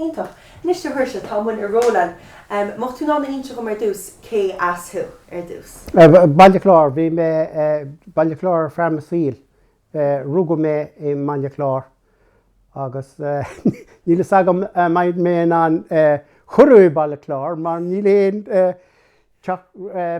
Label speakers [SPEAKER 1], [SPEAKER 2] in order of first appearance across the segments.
[SPEAKER 1] Iontach. Anois a Shaoirse, tá muid ag rolladh, em, mbeadh tú in ann a inse dhom ar dtús cé as thú, ar dtús? Baile Chláir, bhí mé, eh, Baile Chláir ar feadh mo saoil. Eh, rugadh mé i mBaile Chláir agus níl fhios agam a' mbeidh mé in ann, eh, curtha i Baile Chláir mar níl aon, eh, teach, eh,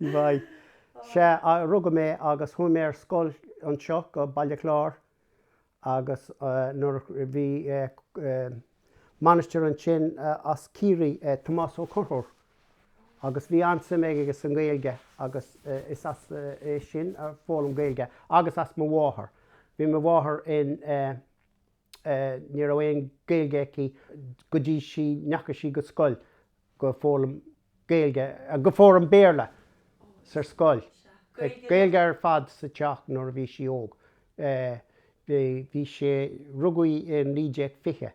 [SPEAKER 1] Bhí. Sea, rugadh mé agus chuaigh mé ar scoil anseo go Baile Chláir agus nuair a bhí máistir ansin as Ciarraí é Tomás Ó Conchúir agus bhí an-suim aige sa nGaeilge agus is as é sin a d'fhoghlaim mé Gaeilge agus as mo mháthair. Bhí mo mháthair in. Ní raibh aon Gaeilge aici go dtí sí ndeachaigh sí go scoil, gur fhoghlaim Gaeilge, gur fhoghlaim Béarla sa scoil, Gaeilge ar fad sa teach nuair a bhí sí óg. Bhí sé, rugadh í i 1920.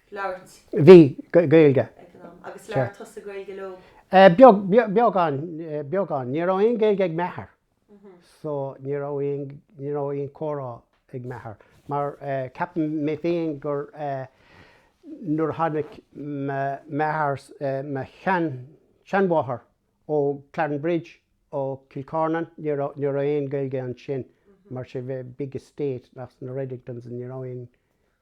[SPEAKER 1] labhairt. Bhí, Gaeilge. ag an am. Agus labhair tusa Gaeilge leo? Beag, beagán, beagán. Ní raibh aon Ghaeilge ag m'athair, so ní raibh aon, ní raibh aon comhrá ag m'athair. Mar ceapaim mé féin gur nuair a tháinig m'athair, mo shean, seanmháthair ó Clarinbridge, ó Kilcornan, ní raibh, ní raibh aon Ghaeilge ansin, mar used to be big estate ag na Redingtons, ní raibh aon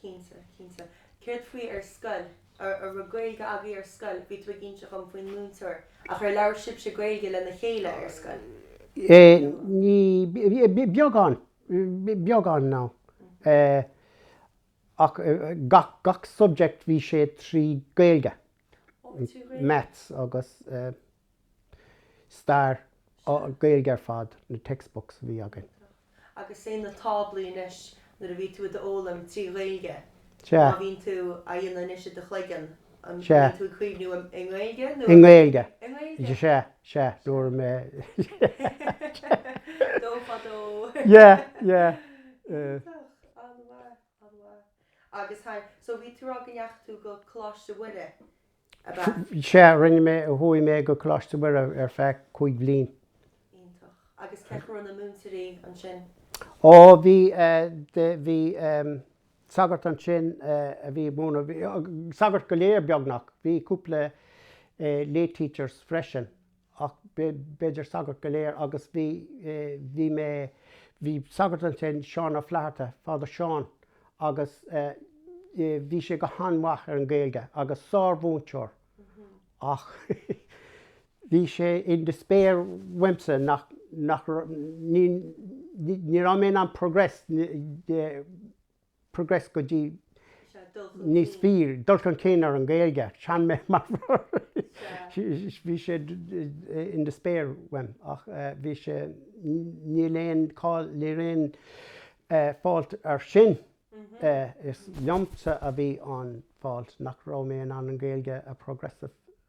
[SPEAKER 1] Cinnte, cinnte. Céard faoi ar scoil? An raibh Gaeilge agaibh ar scoil? Bhí tú ag inse dhom faoin múinteoir. Ach ar labhair sibhse Gaeilge lena chéile ar scoil? Ní, beagán, beagán, no. Ach gach subject bhí sé trí Gaeilge. Maths agus. Stair, á, Gaeilge ar fad, na textbooks a bhí againn. Agus sin na táblaí anois, nuair a bhí tú á bhfoghlaim trí Ghaeilge, má bhíonn tú á dhéanamh anois i do chloigeann, an mbíonn tú ag cuimhniú i nGaeilge nó i nGaeilge? I nGaeilge. Sea, sea, nuair a. Dó faoi dhó. Yeah, yeah. Iontach, an-mhaith, an-mhaith. Agus, em, so bhí tú ag rá go ndeachaigh tú go Coláiste Mhuire. ab ea? Sea, rinne mé, chuaigh mé go Coláiste Mhuire ar feadh cúig bhliain. Iontach. Agus cé hiad na múinteoirí ansin? Ó, bhí, bhí sagairt ansin a bhí ag múineadh, sagairt go léir beagnach, bhí cúpla lay teachers freisin. ach b'fhéidir sagairt go léir, agus bhí, bhí mé, bhí sagart ansin, Seán Ó Flatharta, Father Seán, agus bhí sé go han-mhaith ar an Ghaeilge agus sár-mhúinteoir ach bhí sé in despair uaimse nach, nach raibh, ní, ní raibh mé in ann progress, progress go dtí níos fearr, dul chun cinn ar an Gaeilge, chan mé mar bhí sé in despair uaim ach bhí sé níl aon, ní raibh aon fault air sin is liomsa a bhí an fault nach raibh mé in ann an Gaeilge a progress.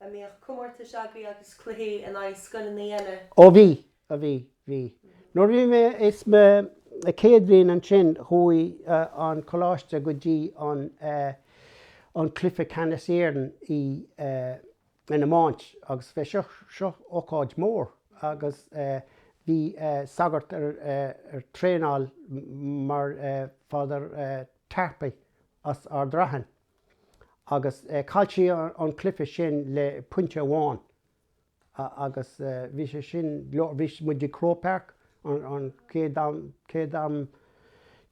[SPEAKER 1] an mbíodh comórtais agaibh agus cluichí in aghaidh scoileanna eile. Ó bhí, a bhí, bhí. Nuair a bhí mé i mo chéad bhliain ansin chuaigh an coláiste go dtí an, an cluiche ceannas Éireann i, an iomáint agus bhí seo, seo ócáid mór agus bhí sagart ar ar traenáil mar Father Tarpey as Ard Rathain. Agus chaill siad an cluiche sin le pointe amháin agus bhí sé sin leor, bhí muid i Croke Park an chéad am, chéad am,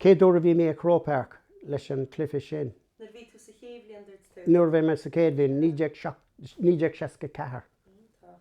[SPEAKER 1] chéad uair a bhí mé i Croke Park leis an cluiche sin. Nuair a bhí tú sa chéad bhliain dúirt tú? Nuair a bhí mé sa chéad bhliain, 1964. Iontach.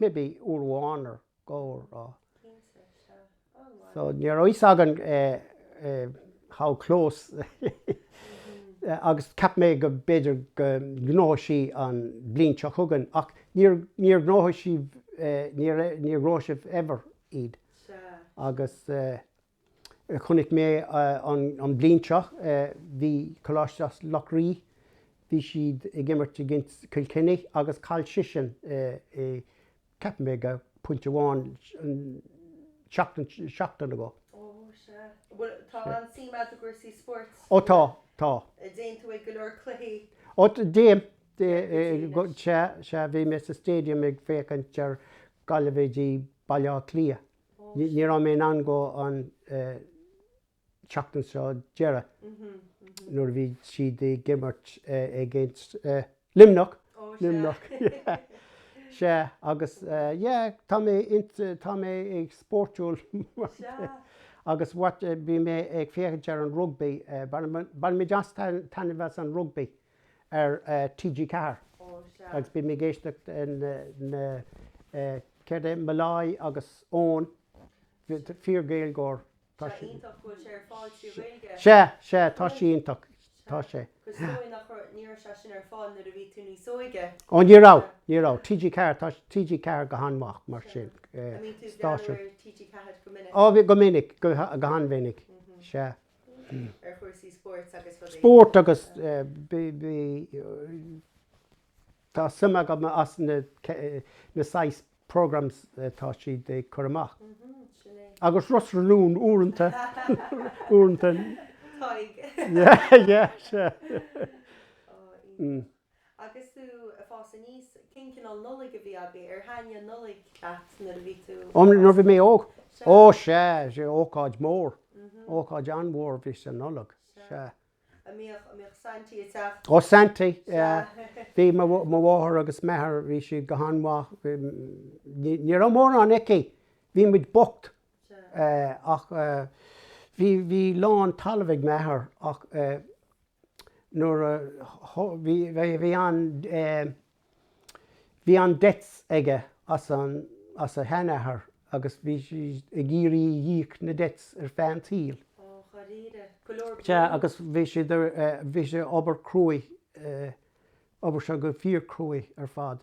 [SPEAKER 1] Maybe uair amháin nó dhó, ní raibh. Ní raibh a fhios againn how close agus cheap mé go b'fhéidir go ngnóthódh sí an bhliain seo chugainn ach níor ghnóthaigh sí, níor ghnóthaigh sibh ever iad agus. Chonaic mé an bhliain seo, bhí Coláiste Loch Rí, bhí siad ag imirt i gcoinne Kilkenny agus chaill siadsan i, ceapaim le pointe amháin, seachtain, seachtain ago. Ó, sea. Bhuel, tá an-suim agat i gcúrsaí spóirt. Ó, tá, tá. An dtéann tú ag go leor cluichí? Ó, téim. Sea, sea, bhí mé sa Stadium ag féachaint ar Gaillimh v Baile Átha Cliath. Ní raibh mé in ann dul an tseachtain seo deireadh nuair a bhí siad ag imirt against Luimneach, Luimneach, sea, agus yeah, tá mé ins, tá mé ag spóirtiúil agus what, bhí mé ag féachaint ar an rugbaí, baineann mé an-taitneamh as an rugbaí. ar TG Ceathair agus bím ag éisteacht le céard é Molloy agus Eoin fíor-Ghaeilgeoir tá sé iontach go bhfuil sé ar fáil trí Ghaeilge sea sea tá sé iontach tá sé is dóigh nach raibh ní raibh sé sin ar fáil nuair a bhí tú níos óige ó ní raibh ní raibh TG Ceathair tá TG Ceathair go han-mhaith mar sin stáisiún TG Ceathair go minic ó bhí go minic go han-mhinic sea. spóirt agus tá suim agam sna saghas programmes atá siad ag cur amach. Agus Ros na Rún uaireanta, uaireanta. Tá. Yeah, yeah, sure. Oh, Agus tú ag fás aníos, cén cineál Nollaig a bhí agaibh? Ar thaitníodh Nollaig leat nuair a bhí tú ag fás aníos? Ó, nuair a bhí mé óg? Sea. Ó sea, sea, ócáid mhór, ócáid an-mhór a bhí sa Nollaig, sea. Sea. A' mbíodh, a' mbíodh Saintí ag teacht? Ó, Saintí, yeah. Sea. Bhí mo, mo mháthair agus m'athair, bhí siad go han-mhaith, ní, ní raibh mórán aici, bhí muid bocht. Sea. Eh, ach eh, bhí, bhí a lán talaimh ag m'athair ach eh, nuair a bhí, bhí, bhí an, bhí an debts aige as an, as a sheanathair agus bhí sé ag iarraidh ag íoc na debts ar feadh an tsaoil. Ó, dháiríre. Go leor bróid. Sea, agus bhí sé, bhí sé obair cruaidh, obair seo go fíor-cruaidh ar fad.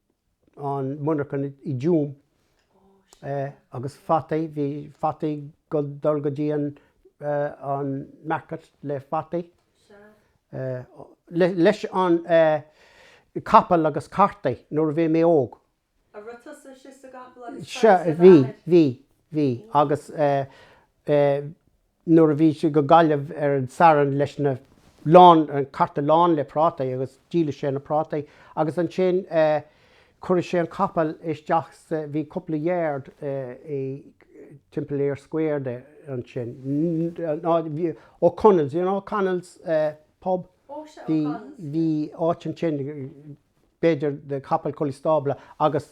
[SPEAKER 1] an monarcha i dTuaim agus fataí, bhí fataí go dul go dtí an an market le fataí leis an capall agus carta nuair a bhí mé óg. An raibh tusa istigh sa gcapall agus sa bheatha? Sea, bhí, bhí, bhí, agus nuair a bhí sé go Gaillimh ar an Satharn leis na lán, an carta lán le prátaí agus díoladh sé na prátaí agus ansin chuireadh sé an capall isteach sa, bhí cúpla yard i timpeall Eyre Square ansin, ná, Ó Conaill, you know Connell's pub, bhí, bhí áit ansin b'fhéidir na capaill chun an stábla agus.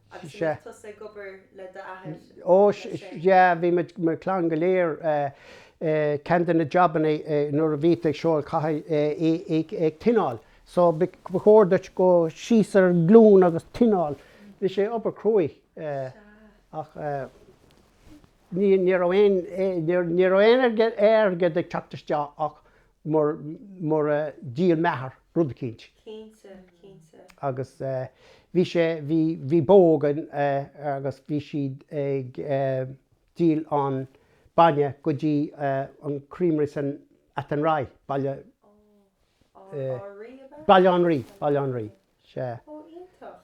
[SPEAKER 1] Agus an mbíodh tusa ag obair le d'athair anois é? Yeah, bhí muid, mo chlann go léir, ceann de na jabanna nuair a bhí tú ag siúl caithfidh ag tineáil so ba chóir duit dul síos ar an glún agus tineáil. Bhí sé obair cruaidh ach ní raibh aon ní raibh aon airgead ag teacht isteach ach mar dhíol m'athair rud eicínt. Cinnte, cinnte. Agus bhí sé, bhí bó againn agus bhí siad ag díol an bainne go dtí an creamery san Athenry, baile, Átha an Rí ab ea? Baile an Rí, Baile an Rí, sea. Ó, iontach.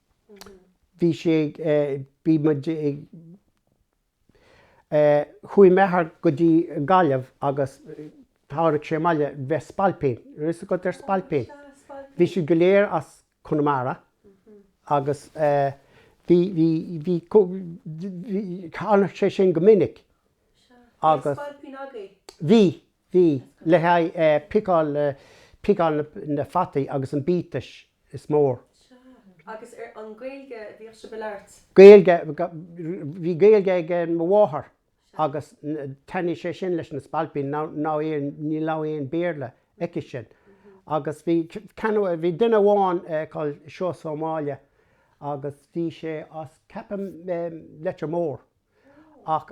[SPEAKER 1] bhí sé ag, bhí muid ag, chuaigh m'athair go dtí Gaillimh agus tháinig sé abhaile, bheith spailpín, raibh 'fhios agat ar spailpín? Bhí siad go léir as Conamara agus bhí, bhí, bhí, tháinig sé sin go minic agus. Bhí spailpín agaibh? Bhí. Bhí, le haghaidh piceáil, piceáil na fataí agus an biatais is mór. Sea. Agus arbh í an Ghaeilge a bhíodh sibh a labhairt? Gaeilge, bhí Gaeilge ag mo mháthair agus thaitin sé sin leis na spailpín, mar ní raibh aon Béarla acu sin. Agus bhí, bhí duine amháin called Seosamh Ó Máille agus bhí sé as, ceapaim, Leitir Móir. Ach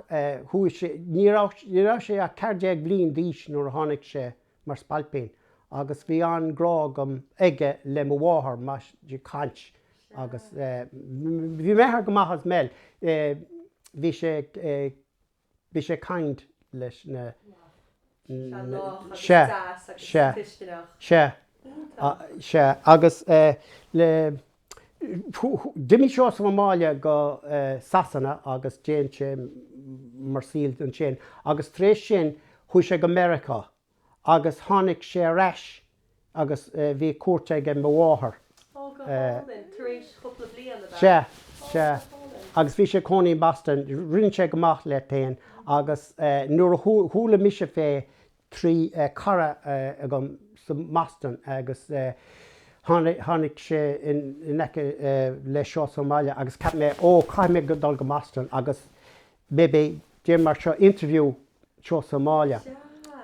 [SPEAKER 1] chuaigh sé, ní raibh, ní raibh sé ach 14 bhliain d'aois nuair a tháinig sé mar spailpín agus bhí an-grá agam, aige le mo mháthair, mar, caint agus, bhí m'athair go maith as well, bhí sé, bhí sé kind leis na. Sea, sea, sea, sea, agus le, d'imigh sé as an mbaile go Sasana agus dhein sé military service ansin agus tar éis sin chuaigh sé go Meiriceá agus tháinig sé ar ais agus bhí cuairt ag mo mháthair. Ó, go hálainn. Tar éis chúpla bliain, ab ea? Sea. Sea. Ó, go hálainn. Agus bhí sé ag cónaí in Boston. Rinne sé go maith leis féin agus nuair a chuala mise faoi trí cara agam sa mBoston agus tháinig sé in aice le Seosamh Ó Máille agus cheap mé, Ó, caithfidh mé dul go Boston agus maybe déanamh, mar seo, interview le Seosamh Ó Máille.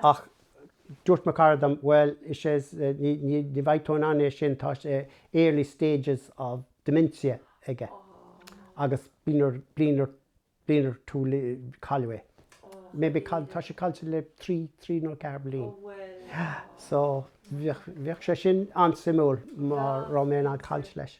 [SPEAKER 1] Ach dúirt mo chara dom, bhuel, is é, ní bheidh tú in ann é sin, tá sé early stages of dementia aige agus bliain ar bith cailleadh é. Maybe cailleadh, tá sé caillte le trí, trí nó ceathair bliain. So, bheadh sé sin an-suimiúil má raibh mé in ann caint leis.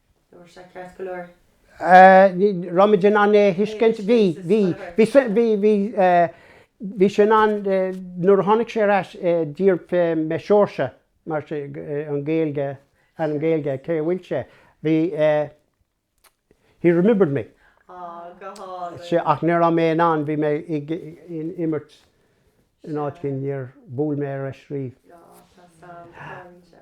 [SPEAKER 1] Dúirt sé ceart go leor. Eh, raibh muid in ann é a thuiscint. Bhí, bhí. Bhí, bhí, bhí, eh, bhí sé in ann, eh, nuair a tháinig sé ar ais, eh, d'iarr, eh, mo source, mar sin, eh, an Ghaeilge, ainm Gaeilge, cé bhfuil sé? Bhí, eh, he remembered me. Á, go hálainn. Sea, ach ní raibh mé in ann, bhí mé ag imirt in áit éigin, níor, bhuail mé ariamh. Á, tá sam, tá, bhí sé.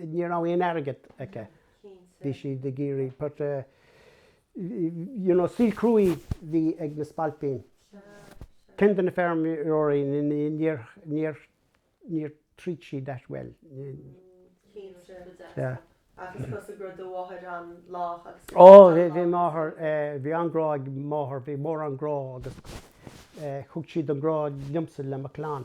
[SPEAKER 1] ní raibh aon airgead acu, bhí siad ag iarraidh but you know saol cruaidh bhí ag na spailpín, cuid de na feirmeoirí níor níor níor treat siad that well yeah. Agus thosaigh gur do mháthair an lách agus ó bhí bhí máthair bhí an grá ag máthair bhí mór an grá agus thug siad an grá liomsa le mo clann.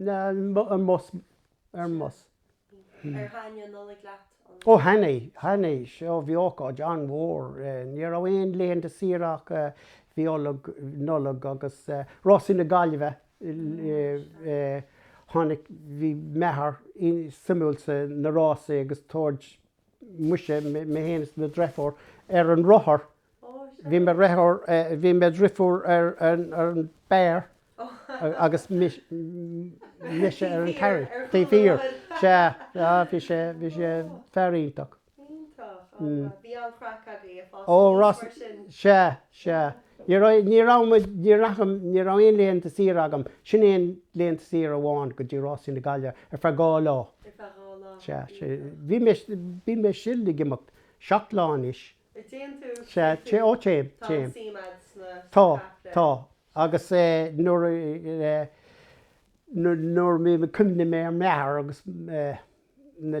[SPEAKER 1] Ar mbus. Ar thaitnigh an Nollaig leat an uair seo? Ó thaitnigh, thaitnigh. Seo, bhí ócáid an-mhór. Ní raibh aon laethanta saoire ach bhí Iollag, Nollaig agus Rásaí na Gaillimhe. Tháinig, bhí m'athair suimiúil sa na rásaí agus tabhaird muise, mé fhéin is mo dhreifiúr ar an rothar, bhí mo dhreifiúr, bhí mo dhreifiúr ar an mbar agus mise ar an carriage, taobh thiar, sea, á bhí sé, bhí sé fear iontach. Iontach, á bhí an-chraic agaibh ag fás aníos mar sin? Sea, sea. Ní raibh, ní raibh muid, ní raibh, ní raibh aon laethanta saoire agam, sin é an laethanta saoire amháin, go dtí Rásaí na Gaillimhe ar feadh dhá lá. Ar feadh dhá lá. Sea, sea. Bhí mé, bhí mé still ag imeacht, seacht lá anois. A dtéann tú, Sea, téann tú. téim, ó téim, Tá an téim. suim a'd sna, Tá, sna capaill. tá. Agus eh nuair a eh, nuair, nuair a bhí mé, cuimhnigh mé ar m'athair agus eh na,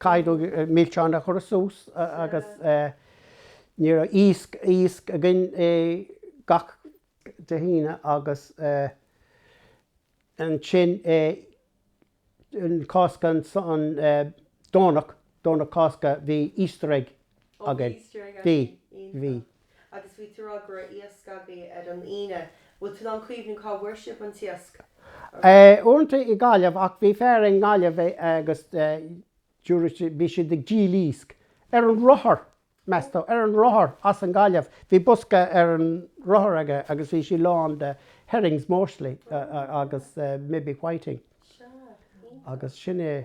[SPEAKER 1] Caithfidh tú milseáin a thabhairt suas agus ní raibh iasc, iasc againn gach Dé hAoine agus ansin Cásca an Domhnach, Domhnach Cásca bhí Easter egg againn. Bhí. Bhí. Agus bhí tú rá go raibh iasc agaibh ar an Aoine. Bhfuil tú in ann cuimhniú cá bhfuair sibh an t-iasc? Uaireanta i nGaillimh, ach bhí fear i nGaillimh agus bhí sé ag díol iasc. Ar an rothar, meas tú, ar an rothar as an Gaillimh. Bhí bosca ar an rothar aige agus bhí sí lán de herrings mostly agus maybe whiting. Agus sin é.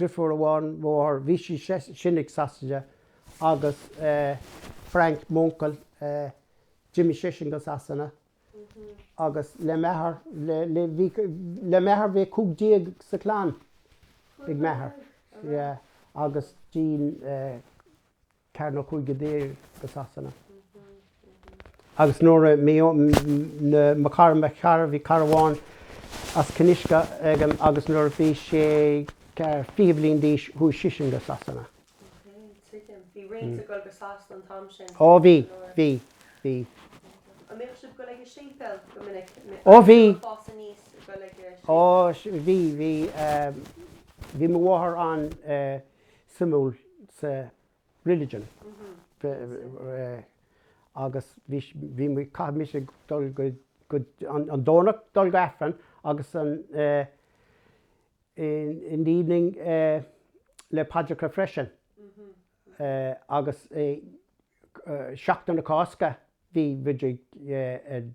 [SPEAKER 1] driofúr amháin mo mháthair, bhí sise i Sasana agus Frank, m'uncail, d'imigh seisean go Sasana agus le m'athair, bhí, le m'athair bhí cúig déag sa clann ag m'athair, yeah, agus ceathair nó cúig go dtí Sasana. Agus nuair a, mo chara, mo chara, bhí cara amháin as Cinn Uisce agam agus nuair a bhí sé ceithre fiche bliain d'aois chuaigh sisean go Sasana. Ok, tuigim. Bhí roinnt ag dul go Sasana an t-am sin. Ó bhí, bhí, bhí. An mbíodh siad ag dul ag an Séipéal go minic? Ó bhí. An fás aníos ag dul ag an Séipéal? Ó bhí, bhí. Bhí mo mháthair an. suimiúil sa religion agus bhí bhí muid caithfidh mise dul gach aon Domhnach dul go Aifreann agus an in the evening le paidreacha freisin agus Seachtain na Cásca bhí muid ag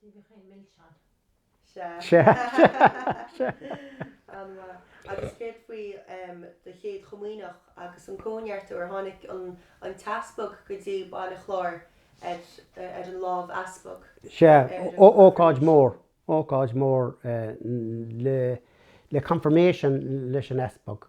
[SPEAKER 1] Dia bheadh aon milse ann. Sea. Sea. Sea. An-mhaith. Agus céard faoi do chéad chomaoineach agus an cóineartú ar tháinig an t-easpag go dtí Baile Chláir ag dul faoi lámh easpaig? Sea. Ócáid mhór. Ócáid mhór le confirmation leis an easpag.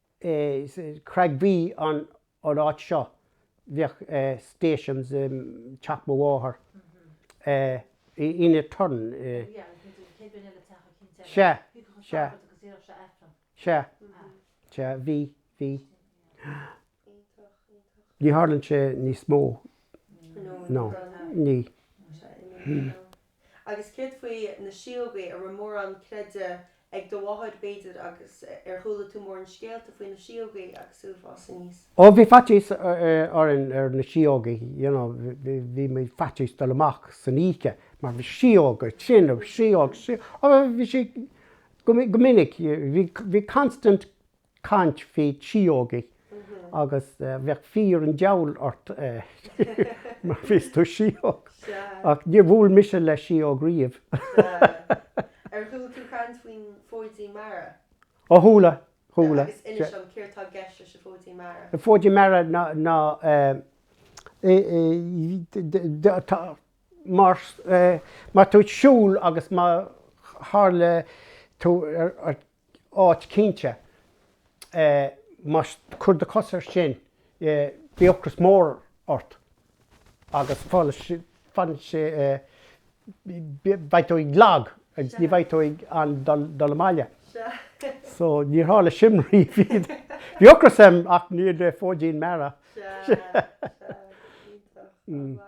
[SPEAKER 1] sa Chreig Bhuí, an áit seo, bheadh Stations i teach mo mháthar, ina turn í. Sea, sea. Sea, sea, bhí, bhí. Ní tharlann sé níos mó. No, ní. Agus céard faoi na síógaí? An raibh mórán creideamh ag do mháthair, b'fhéidir, agus ar chuala tú mórán scéalta faoi na síógaí agus tú ag fás aníos? Ó, bhí faitíos orm ar na síógaí, you know, bhí muid faitíos dul amach san oíche mar bhí síóga, sin, síóg, síóg, oh, bhí sí, go minic, bhí constant, caint faoi síógaí agus bheadh fear an deabhail ort má fheiceann tú síóg. Ach níor bhuail mise le síóg riamh. Sea. Ar chuala tú caint faoin Fóidín Meara? Ó chuala, chuala. Agus inis dom, céard tá i gceist leis an Fóidín Meara? An Fóidín Meara ná má tú ag siúl agus má tharla tú ar áit cinnte, má cur do cos ar sin, bhí ocras mór ort agus fanann sé, beidh tú ag lag agus ní bheidh tú in ann dul abhaile. So níor tharla sin riamh. Bhí ocras orm ach ní le fóidín meara. Sea, sea, iontach, an bhfaca?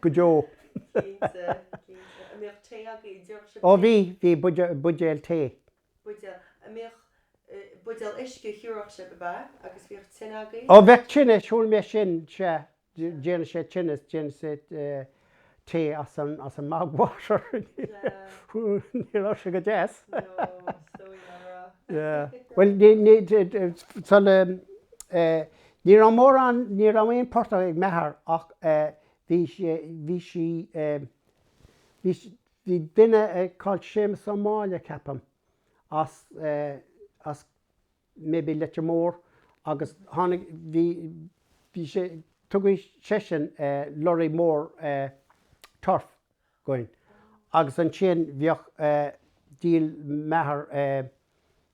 [SPEAKER 1] go deo. Ó, bhí, bhí, buidéal tae. Ó, bheadh tine, shíl mé sin, sea, dhéanadh sé tine, dhéanadh sé tae as an, as an mbog water, ní raibh sé go deas, yeah, bhuel, ní, ní, sula, eh, Ní raibh mórán, ní raibh aon portach ag m'athair ach bhí, bhí sí, bhí, bhí duine called Séamus Ó Máille ceapaim as, as maybe Leitir Mór agus tháinig, bhí, bhí sé, tugadh seisean lorry mór turf againn agus ansin bheadh, dhíol m'athair.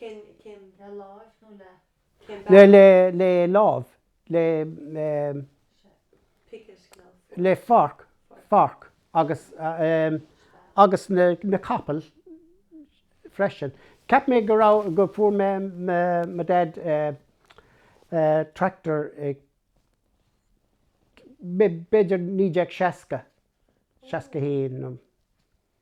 [SPEAKER 1] le láimh nó le cén bealach? le le láimh le le forc forc agus agus na na capaill freisin cheap mé go raibh go fuair mo dad tractor i b'fhéidir naoi déag seasca seasca haon nó.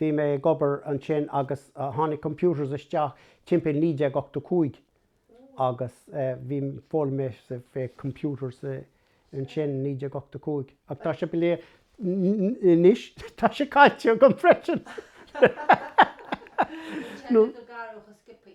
[SPEAKER 1] Bhí mé ag obair ansin agus tháinig computers isteach timpeall 1985 agus bhí foghlaim mé faoi computers ansin 1985 ach tá sé anois tá sé caillte agam freisin. An teanga go garbh a Skippy.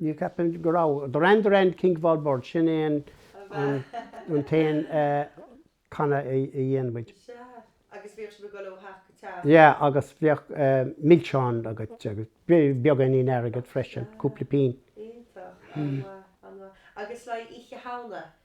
[SPEAKER 1] Ní ceapaim go raibh. The wren the wren king of all birds, sin é an an t-aon canadh a dhéanann muid. Sea. Agus bhíodh sibh ag dul ó theach go teach. Yeah agus bhíodh milseáin agat agus beagáinín airgead freisin, cúpla pingin. Iontach. An-mhaith, an-mhaith. Agus like Oíche Shamhna,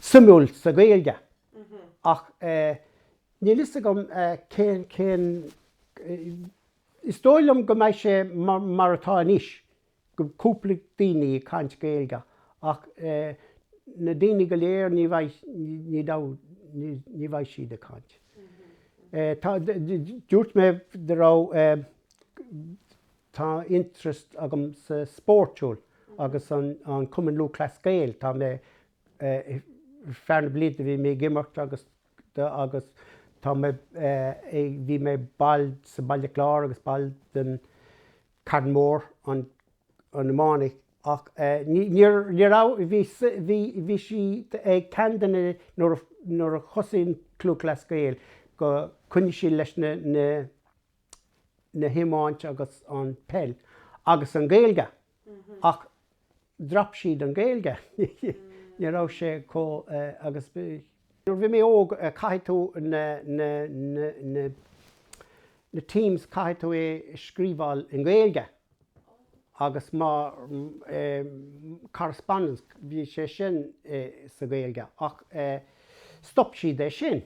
[SPEAKER 1] suimiúil sa Ghaeilge ach níl fhios agam cén, cén, is dóigh liom go mbeidh sé mar atá anois, go mbeidh cúpla daoine ag caint Gaeilge ach na daoine go léir ní bheidh, ní bheidh, ní bheidh siad ag caint. Tá, dúirt mé go raibh, Tá interest agam sa spórt, siúl agus an Cumann Lúthchleas Gael. Tá mé, ar feadh na blianta bhí mé ag imirt agus agus tá mé, bhí mé ball sa Baile Chláir agus ball den Carn Mór, an an iomáint ach níor ní raibh, bhí bhí bhí sí ag ceann de na, nuair a nuair a thosaigh an Cumann Lúthchleas Gael go coinnigh sí leis na na, an iomáint agus an peil agus an Gaeilge ach drop siad an Gaeilge ní raibh sé chomh agus nuair bhí mé óg caithfidh tú na na na na teams caithfidh tú é scríobháil in Gaeilge agus má tá correspondence bhí sé sin i sa Gaeilge ach stop siad é sin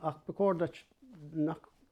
[SPEAKER 1] ach ba chóir duit nach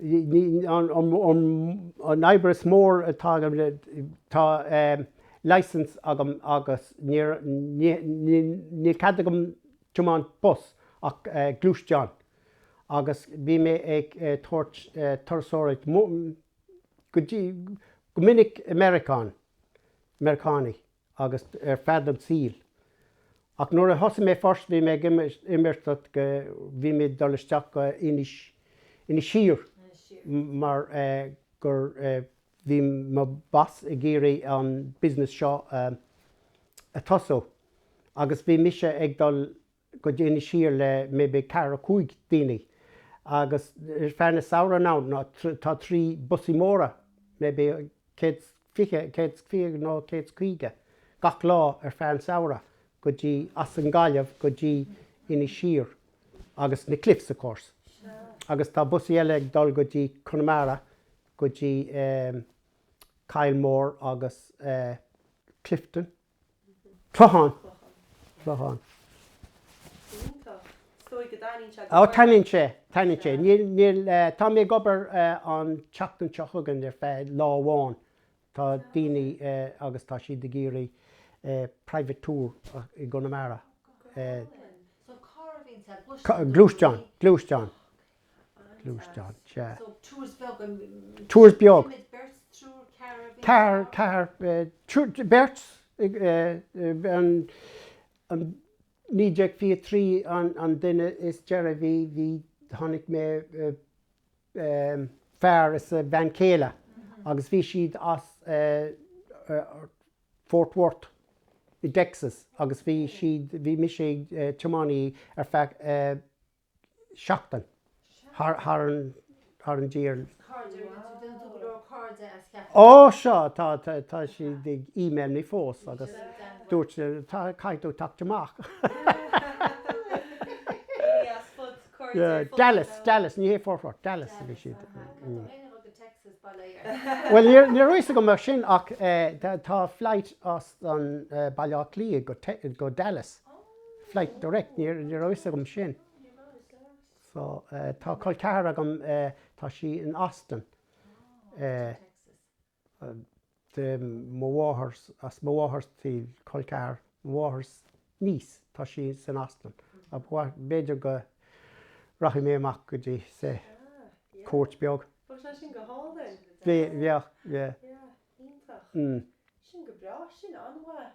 [SPEAKER 1] an obair is mór atá agam le, tá licence agam agus níor, níl cead agam tiomáint bus ach gluaisteán agus bhí mé ag tabhairt turasóireacht go dtí, go minic i Meiriceá, Meiriceánaigh. agus ar fud an tsaoil. Ach nuair a thosaigh mé first bhí mé ag imeacht go bhí mé ag dul isteach go Inis Inis Oírr mar gur bhí mo boss ag iarraidh an business seo a tosú agus bhí mise ag dul go dtí Inis Oírr le maybe ceathrar cúig daoine agus ar feadh na samhradh inniu tá trí busaí móra maybe céad fiche céad is fiche nó céad is caoga gach lá ar feadh an samhradh go dtí as an Gaillimh go dtí Inis Oírr agus na cliffs of course agus tá busaí eile ag dul go dtí Connemara go dtí Kylemore agus Clifden Clochán. Clochán. Ó taitníonn sé, taitníonn sé. Níl, níl, tá mé ag obair an tseachtain seo chugainn ar feadh lá amháin. Tá daoine agus tá siad ag iarraidh private tour i gConamara. Gluaisteán, gluaisteán. gluaisteán, sea. So, tours beag an. Tours beag. Céimid beirt, triúr, ceathrar a bhí ag rá? Ceathrar, ceathrar, triúr, beirt ag an, an, 1923 an, an duine is deireadh bhí, bhí, tháinig fear is a bean chéile agus bhí siad as Fort Worth i dTexas agus bhí siad, bhí mise ag tiománaí ar feadh. seachtain thar an tír. Is cairde againn, tá déanta ag go leor cairde as cheathrar de Ó seo, tá, tá, tá siad ag email mé fós agus dúirt siad, tá, caithfidh tú teacht amach. Dallas, Dallas, ní hé Fort Worth, Dallas a bhí siad. Bhuel, ní raibh fhios agam mar sin ach tá flight as Baile Átha Cliath go Dallas. Flight Direct, ní raibh fhios agam sin. So, tá col ceathar agam, tá sí in Austin, de mo mháthair, as mo mháthair taobh, col ceathar mo mháthair niece, tá sí san Austin. B'fhéidir go rachaidh mé amach go dtí í, cuairt beag. Bhuel, tá sin go hálainn. Bheadh, yeah. Yeah, iontach. Sin go breá, sin an-mhaith.